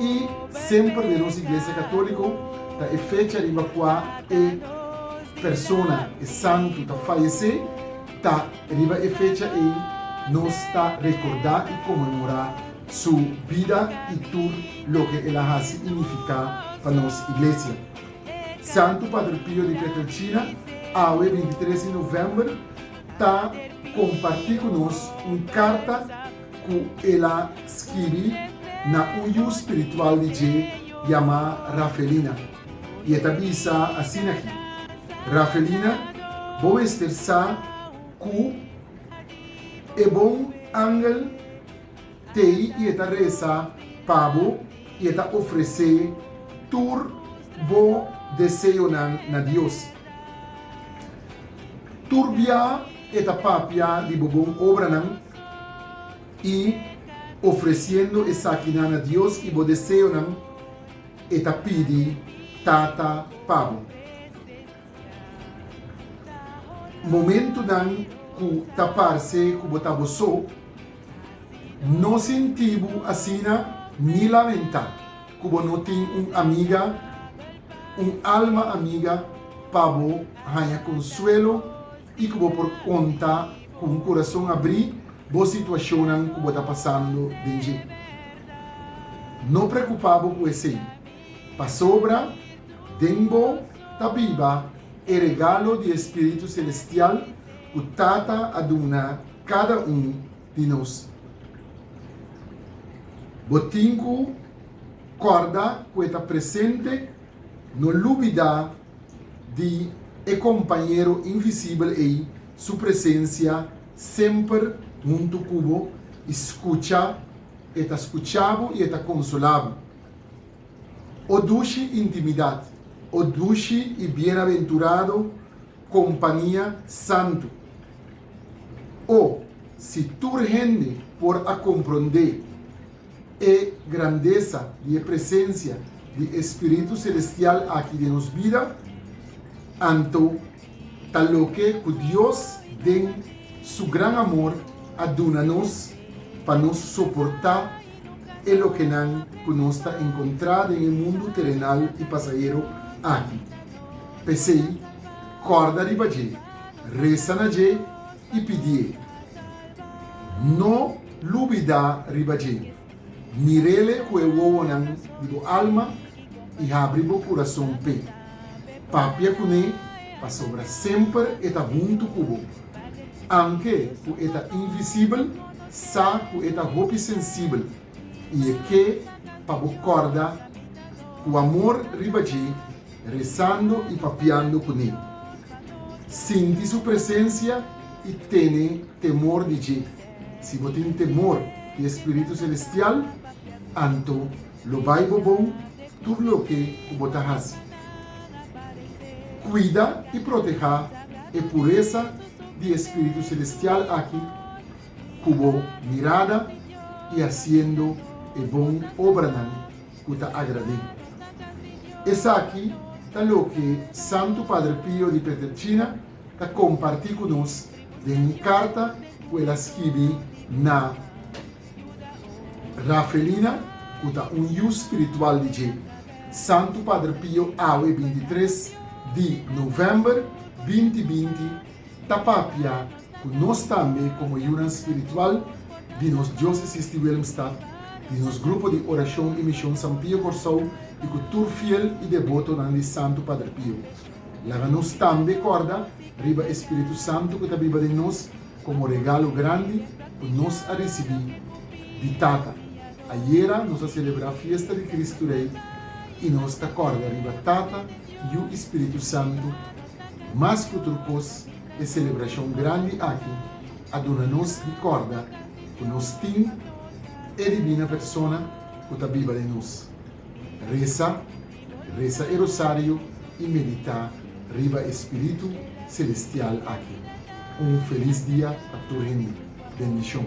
I semper den nos Iglesia Católico ta e fecha riba cua e persona, e santo, ta fayecé, ta riba e fecha ei nos ta recordá i conmemorá su bida i tur loke el a haci i nificá pa nos Iglesia. Santo Padre Pio di Pietrelcina awe bintitres di november ta compartí cu nos un carta, ku el a skirbi na un yu spiritual di dje yamá Rafelina, i e ta bisa asina aki, Rafelina, bo mester sa ku e bon angel t'ei i e ta resa pa bo i e ta ofresé tur bo deseonan na Dios. Tur bia e ta papia di bo bon obranan. i ofresiendo esaki nan na Dios i bo deseonan, e ta pidi Tata pa bo. Momentunan ku ta parse ku bo ta bo so, no sinti bo asina ni lamentá ku bo no tin un amiga, un alma amiga pa bo haña konsuelo i ku bo por konta ku un kurason abrí bo situashonnan ku bo ta pasando den dje. No preokupá bo ku esei, pasobra den bo ta biba e regalo di e spiritu selestial ku Tata a duna kada un di nos. Bo tin ku kòrda ku e ta presente, no lubidá di e kompañero invisibel ei su presensia semper huntu ku bo i skucha, e ta skucha bo i e ta konsolá bo. O dushi intimidat! O dushi i bienaventurado kompania santu! O, si tur hende por a komprondé e grandesa di e presensia di e spiritu selestial aki den nos bida, anto ta loke ku Dios den Su gran amor a duna nos pa nos soportá e lokenan ku nos ta enkontrá den e mundu terenal i pasahero aki. P'esei, kòrda riba dje, resa na dje i pidié, No lubidá riba dje. Mirele ku e wowonan di bo alma i habri bo kurason p'e. Papia kuné pasobra semper e ta huntu ku bo. Anke ku e ta invisibel, sa ku e ta hopi sensibel i e ke pa bo kòrda ku amor riba dje Rezando i papiando kuné. Sinti su presensia i tene temor di dje. Si bo tin temor di e spiritu selestial, anto lo bai bo bon tur loke ku bo ta hasi. Kuida i protehá e puresa di e spiritu selestial aki ku bo mirada i hasiendo e bon obranan. ku ta agrad'é. Esaki ta loke Santu Padre Pio di Pietrelcina ta kompartí ku nos den un karta ku el a skibi na Rafelina, ku ta un yu spiritual di dje. Santu Padre Pio awe bintitres di novèmber binti binti. ta papia ku nos tambe komo yunan spiritual di nos diósesis di Willemstad, di nos Grupo di Orashon i Mishon San Pio Kòrsou i ku tur fiel i debotonan di Santu Padre Pio. Laga nos tambe kòrda riba e spiritu santu ku ta biba den nos komo regalo grandi ku nos a risibí di Tata. Ayera nos a selebrá fiesta di Kristu Rei i nos ta kòrda riba Tata, Yu i Spiritu Santu Mas ku tur kos, e selebrashon grandi aki a duna nos di kòrda ku nos tin e dibina persona ku ta biba den nos. Resa, resa e rosario i meditá riba e spiritu selestial aki. Un felis dia pa tur hende. Bendishon.